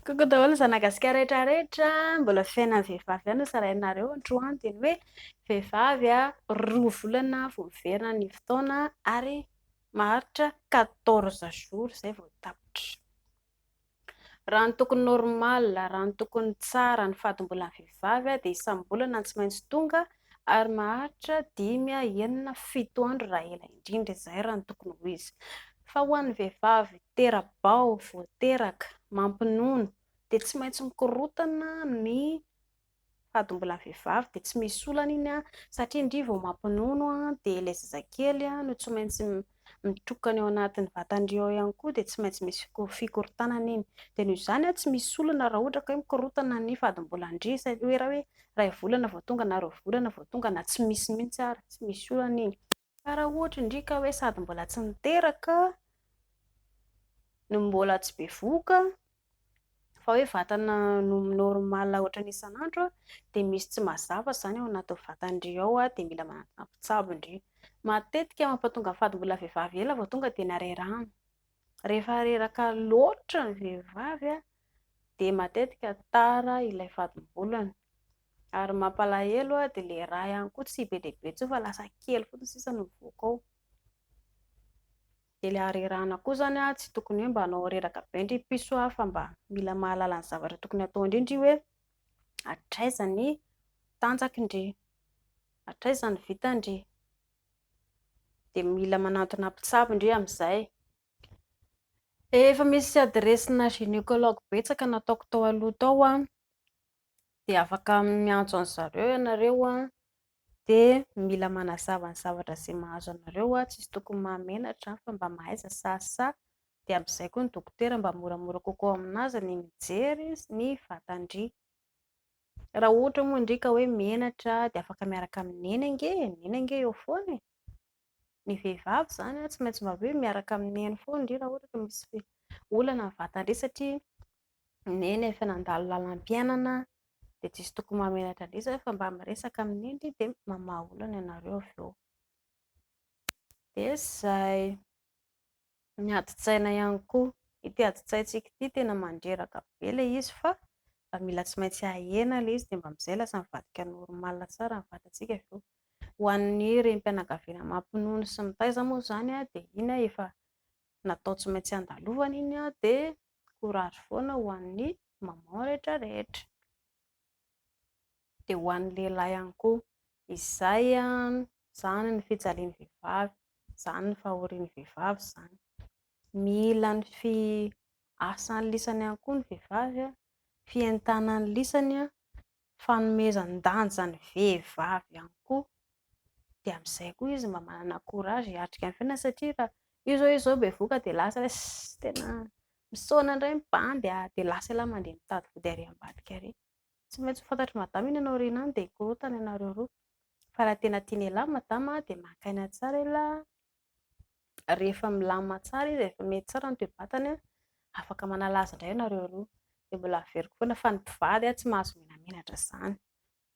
Coucou daholo ny zanagasikara rehetra rehetra mbola fiainan'ny vehivavy ihany no sarahinareo androany dia ny hoe vehivavy a roa volana vao miverina ny fotoana ary maharitra quatorze jours izay vao tapitra raha ny tokony normal raha ny tokony tsara ny fady mbola vehivavy dia isam-bolana tsy maintsy tonga Ary maharitra dimy, enina, fito andro raha ela indrindra izay raha ny tokony ho izy. Fa ho an'ny vehivavy tera-bao, vao teraka, mampinono dia tsy maintsy mikorontana ny fady mbola vehivavy dia tsy misy olana iny satria ndry vao mampinono dia ilay zazakely no tsy maintsy mitokana eo anatin'ny vatan'ireo ao ihany koa dia tsy maintsy misy fikorontanana iny. Dia noho izany tsy misy olana raha ohatra ka hoe mikorontana ny fadimbolan-dry sa hoe raha hoe iray volana vao tonga na roa volana vao tonga na tsy misy mihitsy ary, tsy misy olana iny. Fa raha ohatra indry ka hoe sady mbola tsy niteraka no mbola tsy bevohoka fa hoe vatana no mi-normal ohatrany isan'andro dia misy tsy mazava izany ao anaty vatandry ao dia mila manatona mpitsabo ndry. Matetika mampatonga fady mbola vehivavy ela vao tonga dia narerahana. Rehefa reraka loatra ny vehivavy dia matetika tara ilay fadim-bolany. Ary mampalahelo dia ilay rà ihany koa tsy be dia be intsony fa lasa kely fotsiny sisa no mivoaka ao. Dia ilay harerahana koa izany an, tsy tokony hoe mba hanao reraka be ndry piso an, fa mba mila mahalala ny zavatra tokony hatao indray ndry hoe hatraiza ny tanjaky ndry, hatraiza ny vita ndry, dia mila manantona mpitsabo ndry amin'izay. Efa misy adiresina gynécologue betsaka nataoko tao aloha tao an, dia afaka miantso an-dry zareo ianareo an, dia mila manazava ny zavatra izay mahazo anareo an, tsisy tokony mahamenatra an, fa mba mahaiza sasa, dia amin'izay koa ny dokotera mba moramora kokoa amin'azy ny mijery ny vatan-dry, raha ohatra moa ndry ka hoe menatra dia afaka miaraka amin'i neny ange e, neny ange eo foana e. ny vehivavy izany tsy maintsy mba hoe miaraka amin'ny neny foana indrindra raha ohatra ka misy olana ny vatany irery satria ny neny efa nandalo lalam-piainana dia tsy misy tokony mahamenatra an'ireny izany fa mba miresaka amin'ny neny irery dia mamaha olana ianareo avy eo. Dia izay. Ny adin-tsaina ihany koa. Ity adin-tsaintsika ity tena mandreraka be ilay izy fa mba mila tsy maintsy ahena ilay izy dia mba amin'izay lasa mivadika normal tsara ny vatantsika avy eo. Ho an'ny renim-pianakaviana mampinono sy mitaiza moa izany dia iny efa natao tsy maintsy handalovana iny dia courage foana ho an'ny maman rehetra rehetra. dia ho an'ny lehilahy ihany koa. Izay izany ny fijalian'ny vehivavy, izany ny fahorian'ny vehivavy izany. Mila ny fiasan'ny lisany ihany koa ny vehivavy, fientanan'ny lisany, fanomezan-danja ny vehivavy ihany koa, dia amin'izay koa izy mba manana courage hiatrika ny fiainana satria raha io izao izy izao bevoka dia lasa hoe ss tena Misaona indray ny bandy a! Dia lasa ialahy mandeha mitady vody ary ambadika ary. Tsy maintsy ho fantatr'i Madama iny any aoriana any dia hikorontana ianareo roa. Fa raha tena tian'ialahy i Madama a, dia maka aina tsara ialahy a! Rehefa milamina tsara izy, rehefa mety tsara ny toe-batany a, afaka manala azy indray ianareo roa. Dia mbola averiko foana fa ny mpivady a, tsy mahazo menamenatra izany.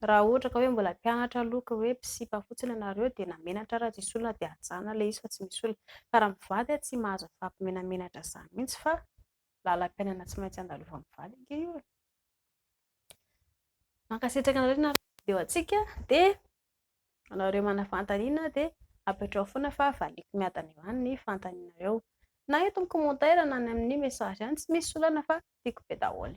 Raha ohatra ka hoe mbola mpianatra aloha ka hoe mpisipa fotsiny ianareo dia na menatra ary tsisy olona dia hajanona ilay izy fa tsy misy olona. Fa raha mivady ary tsy mahazo mifampimenamenatra izany mihitsy fa lalam-piainana tsy maintsy andalovamin'ny vady ange io e! Mankasitraka anareo nanaraka ny video antsika dia ianareo manana fanontaniana dia apetraho foana fa valiako miadana eo any ny fanontanianareo na eto amin'ny commentaire na any amin'ny message any, tsy misy olana fa tiako be daholo.